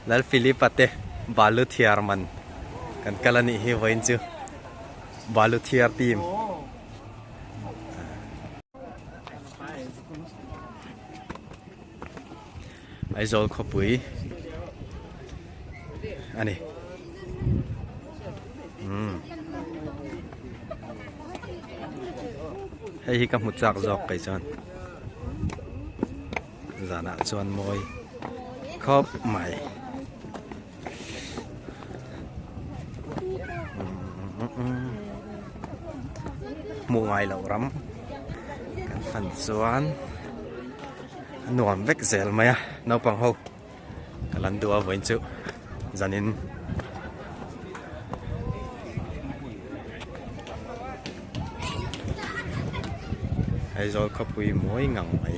Lal Philip ate balu thiar man kan kal ani hi vain chu balu thiar team Aizawl khawpui a ni. Umm. Hei hi ka hmu chak zawk kei chuan. Zanah chuan mawi khawp mai. Hmu ngai loh ram kan han chuan. A nuam vek zel mai a, naupang ho ka lan duh a vawiin chu zanin Aizawl khawpui mawi ngang mai.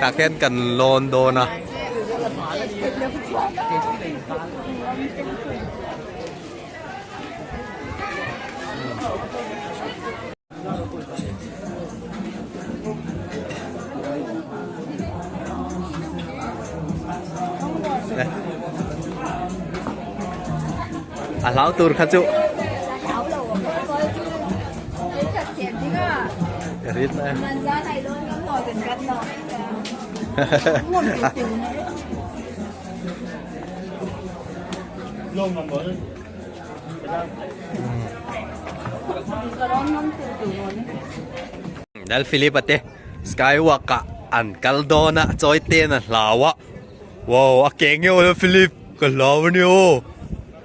Tah khian kan lawn dawn a. A hlau tur kha chu Nal Filipa te Skywalk ah an kal dawn a chawite an hlau a wow a ke ngeuh lo Filip. Ka hlau a ni aw.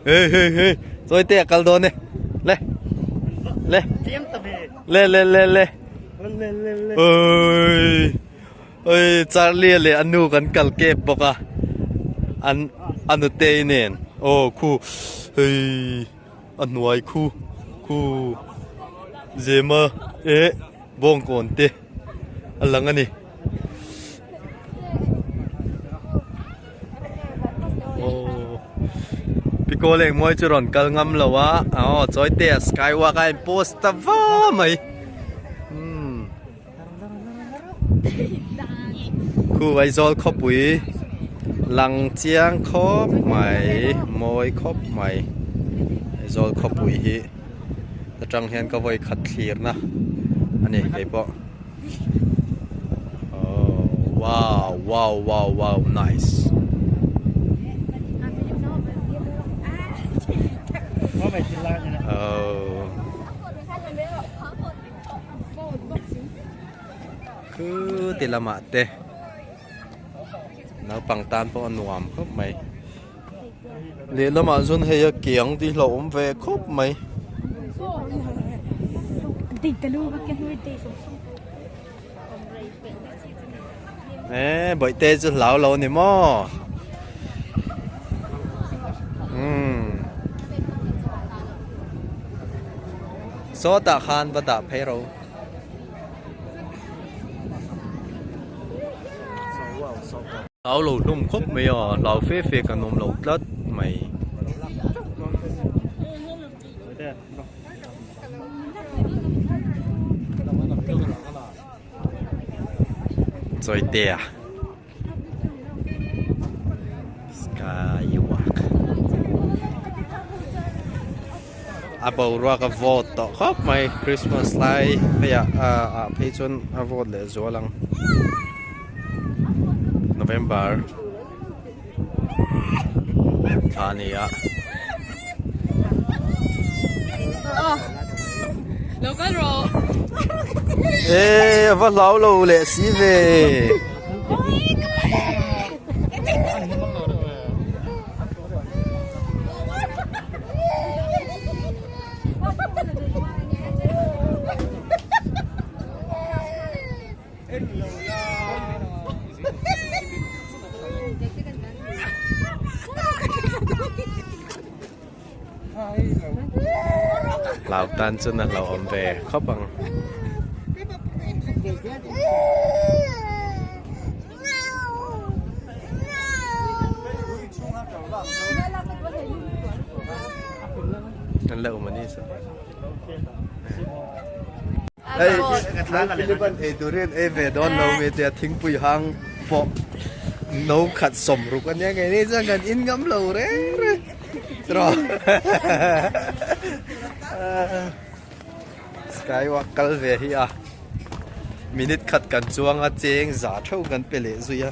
He he he. Chawite a kal dawn e. Le. Le. Le le le le. Oi. Oi Charlie leh anu kan kal kep bawk a. An anute inen. Aw khu. Hei. a hnuai khu khu zema eh bawngkawn te a lang a ni aww pico leng mawi chu rawn kal ngam lo a aw chawite ah skywalk a en post ta va mai umm. khu aizawl khawpui lang chiang khawp mai mawi khawp mai aizawl khawpui hi ta tang hian ka vawi khat thlir na a ni kei pawh oh wow wow wow wow nice oh Khû ti lamah te naupang tan pawh a nuam khawp mai lehlamah chuan hei a kiang tih hlauh awm ve khawp mai Eh, boi te chu hlau lo ni mo. Hmm. So ta khan ba da phei ro. Hlau lo num khop mai a, hlau fe fe ka num lo tlat mai. Chawitea Skywalk a boruak a vote tawh khawp mai Christmas lai pheiah a a phei chuan a vote leh zual ang November Thla a ni a. Lo kal rawh. Ê, va hlau lo lẹ si về. lau tan chu na lau awm ve khawp ang an la awm a ni chuan. Hei nang Philip an ei tur hian ei ve dawn lo ve tia thingpui hang pawh no khat sawm ruk a nia. Ngeiin chuan kan in ngam lo reng reng tiraw. Skywalk kal ve hi a, minute khat kan chuang a cheng za theuh kan pe leh zui a.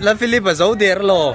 La Philip a zo der law.